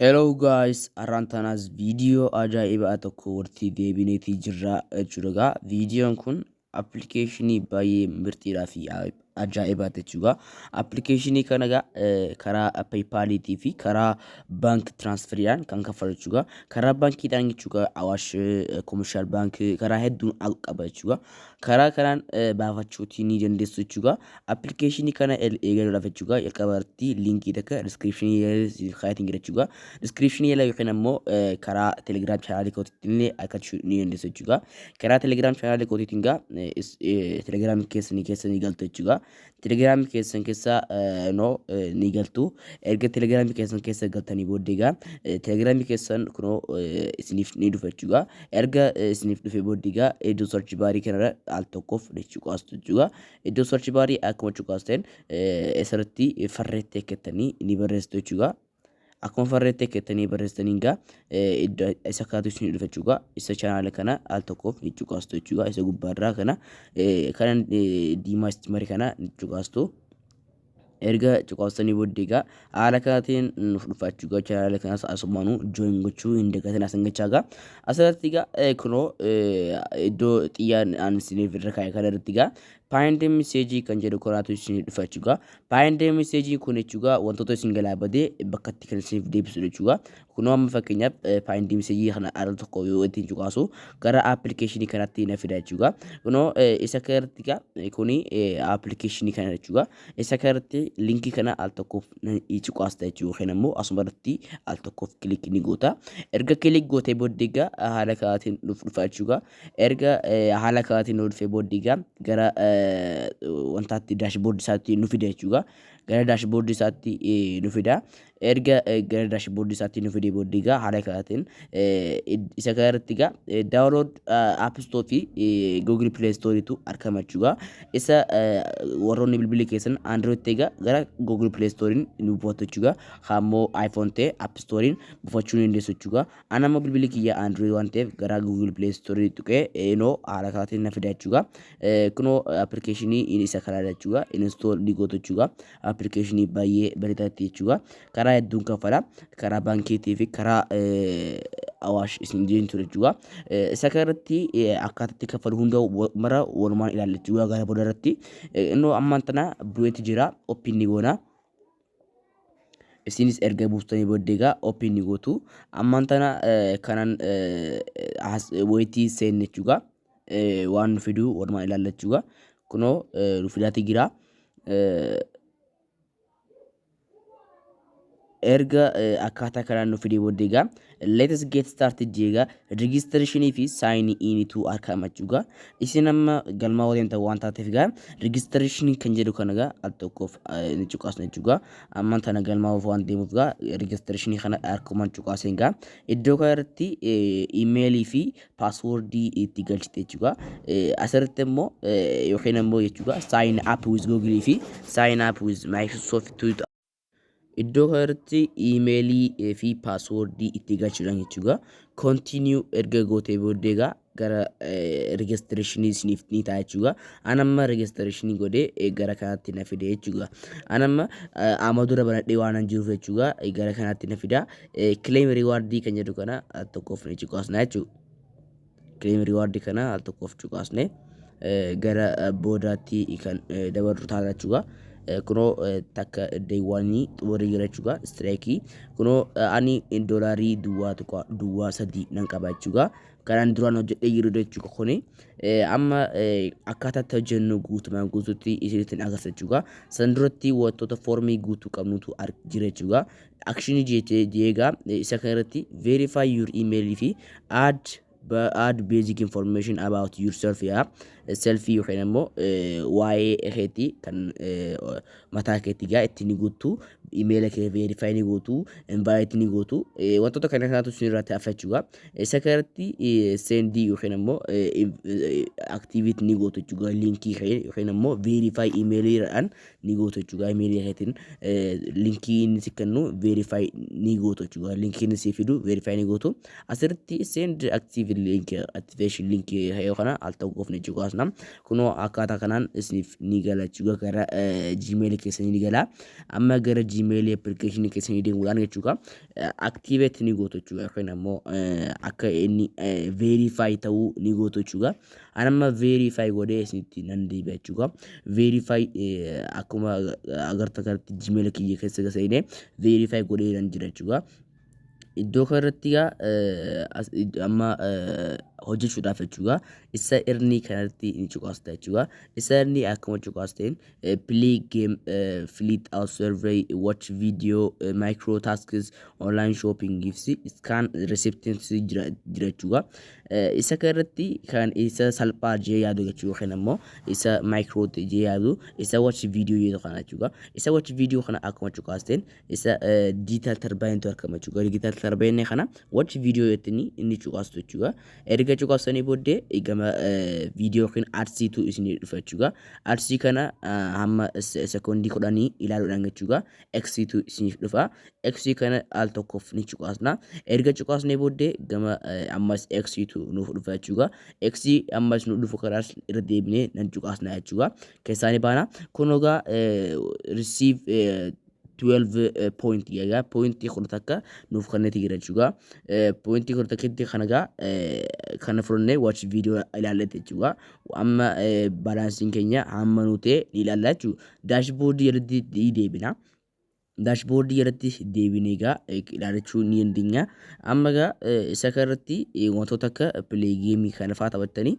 Hello guys, har'aan tanaas viidiyoo ajaa'ibaa tokko walitti deebineetii jirra jechuudha egaa viidiyoon kun appilikeeshinii baay'ee mirtiidhaa fi ajaa'ibaa jechuudha. Appilikeeshinii kana egaa eh, karaa peepaaliitii fi karaa baank tiraansferiidhaan kan kaffalu jechuudha. Karaa baankiidhaan jechuudha awaash koomishaal baank karaa hedduun al qaba jechuudha. Karaa kanaan eh, baafachuutii ni dandeessu jechuudha. Appilikeeshinii kana eegaluudhaaf jechuudha jalqaba irratti liinkii takka diskiripshinii jala kaayatiin jira jechuudha. Diskiripshinii jala yookiin ammoo karaa telegiraam chaanaalii kootiitti illee argachuu ni dandeessu jechuudha. Karaa telegiraam chaanaalii kootiitiin gaa telegiraam keessanii keessa ni galtu jechuudha. Telegiraam keessan keessa noo ni galtu. Erga telegiraam keessan keessa galtanii booddee gaa telegiraam keessan kunoo isiniif ni dhufa jechuudha. Erga isiniif dhufe booddee gaa iddoo sarchi baarii kanarra al tokkoof jechuudha jechuudha. Iddoo search bar akkuma cuqaasteen asirratti farreetti ekkettanii ni barreessitu jechuudha. Akkuma farreetti ekkettanii barreessitaniin gaa isa kaatu isin dhufa jechuudha. Isa chaanaala kana al tokkoof ni cuqaastu jechuudha. Isa gubbaarraa kana kana diimaa istimari kana ni cuqaastu. erga cuqaastanii booddee egaa haala kanaatiin nuuf dhufaa jechuudha. Egaa chaanaala kanas asumaanu join gochuu hin dagatin asan gachaa egaa asirratti egaa eh, kunoo eh, iddoo xiyyaan aan isiniif irra kaa'e kana irratti egaa paayindee miseejii kan jedhu kanaatu isin dhufa jechuudha. Paayindee miseejii kun jechuudha wantoota isin galaabadee bakkatti kan isiniif deebisudha jechuudha. Kunoo amma fakkeenyaaf faayind miseejii kana al tokko yoo ittiin cuqaasu gara appilikeeshinii kanatti na fida jechuudha. Kunoo isa kanarratti egaa kuni appilikeeshinii kana jechuudha. Isa kanarratti linkii kana al tokkoof ni cuqaasta jechuudha yookiin ammoo asuma irratti al tokkoof kilik ni goota. Erga kilik gootee booddee egaa haala kanaatiin nuuf dhufa jechuudha. Erga haala kanaatiin nuuf dhufee booddee egaa gara wantaatti daashboordi isaatti nu fida jechuudha. Gara daashboordi isaatti nu fida. erga gara daashboordii isaatti nu fidee booddee egaa haala kanaatiin isa kana irratti egaa daawunlood app store fi google play store tu argama jechuudha. Isa warroonni bilbilli keessan android ta'e egaa gara google play store nu buufatu jechuudha. Kaammoo iphone ta'e app store buufachuu ni dandeessu jechuudha. Ana immoo bilbilli kiyya android waan ta'eef gara google play store tuqee inoo haala kanaatiin na fida jechuudha. Kunoo appilikeeshinii isa kana jechuudha. Install ni gootu jechuudha. appilikeeshinii baay'ee bareedaatti jechuudha. Karaa hedduun kaffala. Karaa baankiitii fi karaa awaash isin jiran ture jechuudha. Isa kanarratti akkaataatti kaffalu hunda mara walumaan ilaalla jechuudha gara booda irratti. Innoo ammaan tana bu'eeti jira. Oppiin ni goona. Isinis erga buustanii booddee egaa oppiin ni gootu. Ammaan tana kanan wayitii seenne jechuudha. eh, waan nu fiduu walumaa ilaallachuugaa kunoo eh, nu fidaati jira Eh, erga eh, akkaataa kanaan nu fidee booddee egaa let us get started jee egaa registration fi sign in tu harkaa himachuu egaa isin amma galmaa waliin ta'u waan taateef egaa registration kan jedhu kana egaa al tokkoof eh, ni cuqaasna jechuu egaa amma tana galmaa of waan deemuuf egaa registration kana harkumaan cuqaaseen egaa iddoo kana irratti eh, email fi paaswoordii itti galchite jechuudha. Asirratti immoo yookiin immoo jechuudha sign up with google fi sign up with microsoft tuuta. Iddoo kanarratti iimeelii fi paaswoordii itti galchuudhaan jechuudha. Continue erga gootee booddee egaa gara registrationii isiniif ni ta'a jechuudha. An amma registrationii godhee eh, gara kanatti na fide jechuudha. An amma eh, amma dura banadhee waan hin jiruuf jechuudha eh, gara kanatti na fida. Claim reward kan jedhu kana al tokkoof ni cuqaasna jechuudha. Claim reward kana al tokkoof cuqaasne gara boodaatti kan dabarru taana jechuudha. Kunoo takka deewwaanii xumurii jira jechuudha. Istiraayikii kunoo ani doolaarii duwwaa tuqaa duwwaa sadii nan qaba jechuudha. Kanaan duraan hojjedhee jiru jechuudha kuni. Amma akkaataa itti hojjennu guutumaan guutuutti isinitti agarsiisa jechuudha. San duratti wantoota foormii guutuu qabnutu jira jechuudha. akshinii jeetee jeegaa isa kan irratti verify your email fi add add basic information about yourself yaa selfii yookiin immoo waa'ee keetii kan mataa keetii gaa itti ni guuttu imeela kee verify ni gootu invite ni gootu wantoota kana kanatu isin irratti hafa jechuudha isa kan irratti sendii yookiin immoo activate ni gootu jechuudha linkii kee yookiin immoo verify email irraan ni gootu jechuudha imeelii keetiin linkii inni si kennu verify ni gootu jechuudha linkii inni si fidu verify ni gootu asirratti send active link activation link yoo kana al ta'u goofne jechuudha asna kunoo akkaataa kanaan isiniif ni gala jechuudha gara gmail keessanii ni gala amma gara gmail application keessanii deemuudhaan jechuudha activate ni gootu jechuudha yookiin ammoo akka inni verify ta'uu ni gootu jechuudha an amma verify godhee isinitti nan deebi'a jechuudha verify akkuma agartan kanatti gmail kiyya keessa gaseene verify godhee nan jira jechuudha iddoo kanarratti gaa amma hojjechuudhaaf jechuudha isa irnii kanarratti ni cuqaasta jechuudha isa irnii akkuma cuqaasteen play game fleet out survey watch video micro tasks online shopping gifts scan receptance jira jechuudha Isa kan irratti kan isa salphaa jee yaadu jechuu yookiin ammoo isa micro jee yaadu isa watch video jedhu kana jechuudha. Isa watch video kana akkuma cuqaasteen isa digital turbine tu argama jechuudha. Digital turbine kana watch video jettiin inni cuqaastu jechuudha. Erga cuqaastanii booddee gama video yookiin adsii tu isinii dhufa jechuudha. Adsii kana hamma sekoondii kudhanii ilaaluudhaan jechuudha. x tu isiniif dhufa x kana al tokkoof ni cuqaasna erga cuqaasnee booddee gama eh, ammas x tu nuuf dhufa jechuudha x ammas nu dhufu kanaas irra deebinee nan cuqaasna jechuudha keessaa ni baana kun ogaa eh, receive eh, 12 eh, point yaga point kudha takka nuuf kanneti jira jechuudha Eh, point kudha takketti kana gaa eh, kana fudhannee watch video ilaalletti jechuudha amma baalaansiin keenya hamma nu ta'e ni ilaalla jechuudha. Daashboordii jalatti ni deebina. Daashboordii jalatti deebinee egaa ilaalachuu ni dandeenya. Amma egaa isa kanarratti wantoota akka pileegeemii kana fa'aa taphattanii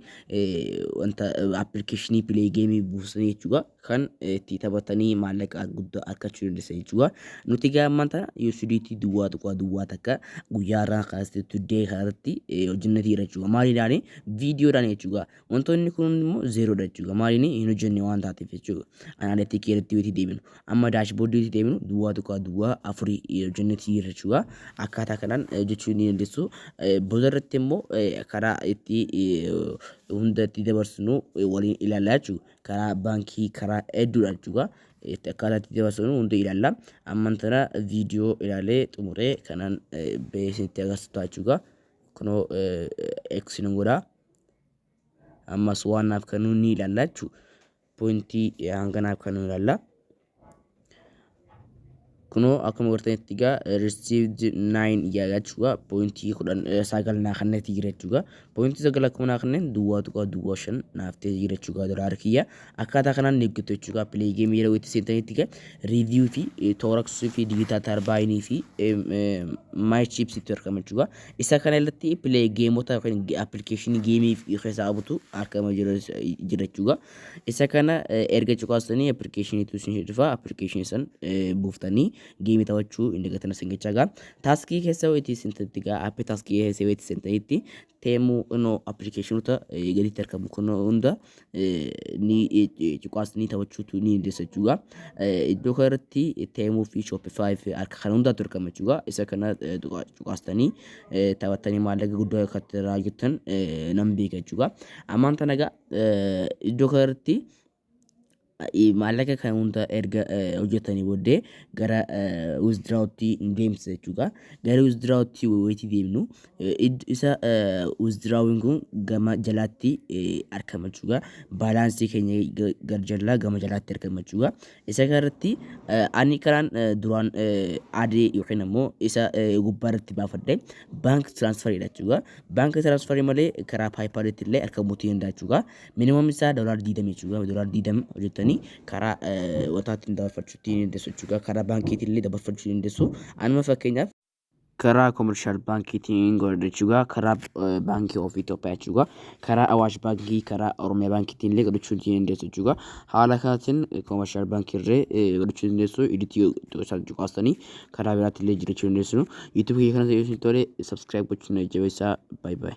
wanta appilikeeshinii pileegeemii buusanii jechuudha. kan itti taphatanii maallaqa guddaa argachuu dandeessa jechuudha. Nuti egaa ammaan tana USDT duwwaa tuqaa duwwaa takka guyyaa irraa kaastee today kanarratti hojjennee jira jechuudha. Maaliidhaani viidiyoodhaan jechuudha. Wantoonni kun immoo zeeroodha jechuudha. Maaliin hin hojjenne waan taateef jechuudha. Anaaleetii keerratti yoo deebinu amma daashboordii yoo deebinu duwwaa tuqaa duwwaa afurii hojjennee jira jechuudha. Akkaataa kanaan hojjechuu ni dandeessu. Booda irratti immoo karaa itti hunda itti dabarsinu waliin ilaallaa jechuudha. karaa baankii karaa hedduudha jechuudha. Itti akkaataa itti dabarsinu hundi ilaalla. Amman tana viidiyoo ilaalee xumuree kanan beeksisnitti agarsiisu ta'a jechuudha. Kunoo eegsinu godha. Ammas waan naaf kennu ni ilaalla jechuudha. Pointii hanga naaf kennu ilaalla. kunoo akkuma gartanitti egaa received 9 jedha jechuudha poointii 10 sagal naa kenneeti jira jechuudha poointii sagal akkuma naa kenneen duwwaa tuqaa duwwaa shan naaf ta'e jira jechuudha dolaara kiyya akkaataa kanaan ni eeggatu jechuudha pilee geemii yeroo itti seentanitti egaa riiviyuu fi tooraksii fi digitaa tarbaayinii fi maay chiipsitti argama jechuudha isa kana irratti pilee geemota yookiin appilikeeshinii geemii keessaa butu argama jira jechuudha Isa kana erga cuqaastanii appilikeeshiniitu isin dhufa appilikeeshinii san buuftanii geemii taphachuu hin dagatina isin jechaa gaa taaskii keessa wayitii isin tatti gaa appii taaskii keessa wayitii isin ta'itti teemuu inoo appilikeeshinoota gaditti argamu kun hunda ni cuqaastanii taphachuutu ni dandeessa jechuudha. Iddoo kanarratti teemuu fi shooppifaayi fi harka kana hundaatu argama jechuudha. Isa kana cuqaastanii taphattanii maallaqa guddaa akka irraa hojjettan nan beeka jechuudha. Ammaan tana gaa eh, iddoo kanarratti eh, maallaqa kan hunda erga eh, hojjetanii booddee gara withdraawutti hin deemsa jechuudha. Gara withdraawutti wayitii deemnu eh, id- isa withdraawuun kun gama jalaatti eh, argama jechuudha. Baalaansii keenya ga- gar jalaa gama jalaatti argama jechuudha. Isa kanarratti ani karaan duraan adee yookiin ammoo isa gubbaa irratti baafadhe baank tiraansfariidha jechuudha. Baank tiraansfarii malee karaa paayipaalitti illee akka mutii hin daachuudha. Minimum isaa doolaar diidamii jechuudha. Doolaar diidama hojjettanii karaa wataatti dabarfachuu ittiin dandeessu jechuudha. Karaa baankiitiin illee dabarfachuu dandeessu. Anuma fakkeenyaaf karaa komershaal baankiitiin hin godha jechuudha. Karaa baankii of Itoophiyaa jechuudha. Karaa Awaash baankii, karaa Oromiyaa baankiitiin illee godhachuu ni dandeessu jechuudha. Haala kanaatiin komershaal baankii irree godhachuu ni dandeessu. Iditii isaan cuqaastanii karaa biraatti illee jirachuu ni dandeessu. Yuutuubii kiyya kanas yoo isin tole subscribe gochuun na jajjabeessaa. Bye bye.